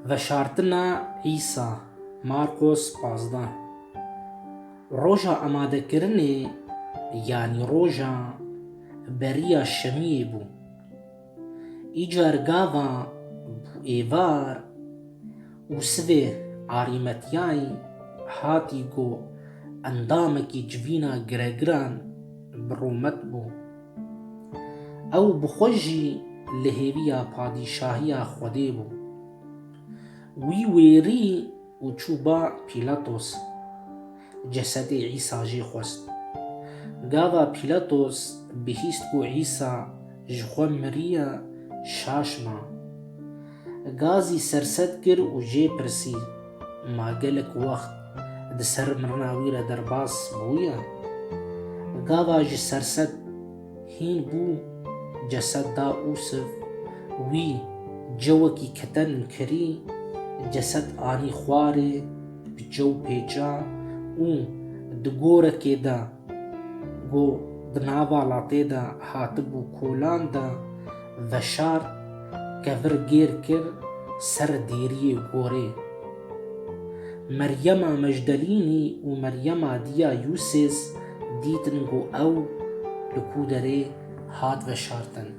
Veşartina Îsa, Marqos pazdeh. Roja amadekirinê yanî roja beriya şemiyê bû. Îcar gava bû êvar û sivê Arîmatyayî hatî ku endamekî civîna giregiran bi rûmet bû. Ew bi xwe jî li hêviya padîşahiya Xwedê bû. Wî wêrî û çû ba Pîlatos. Cesedê Îsa jê xwest. Gava Pîlatos bihîst ku Îsa ji xwe miriye, şaş ma. Gazî serset kir û jê pirsî, Ma gelek wext di ser mirina wî re derbas bûye? Gava ji serset hîn bû, ceset da Ûsif, wî cewekî keten kirî, ceset anî xwarê, bi cew pêça û di gorekê de ku di nava latê de hatibû kolan de, Veşart kevir gêr kir ser dêriyê gorê. Meryema Mecdelînî û Meryema Dîya Yûsês dîtin ku ew li ku derê hat veşartin.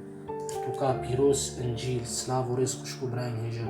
Pirtûka pîroz, Încîl, Silav û rêz xwişk û birayên hêja.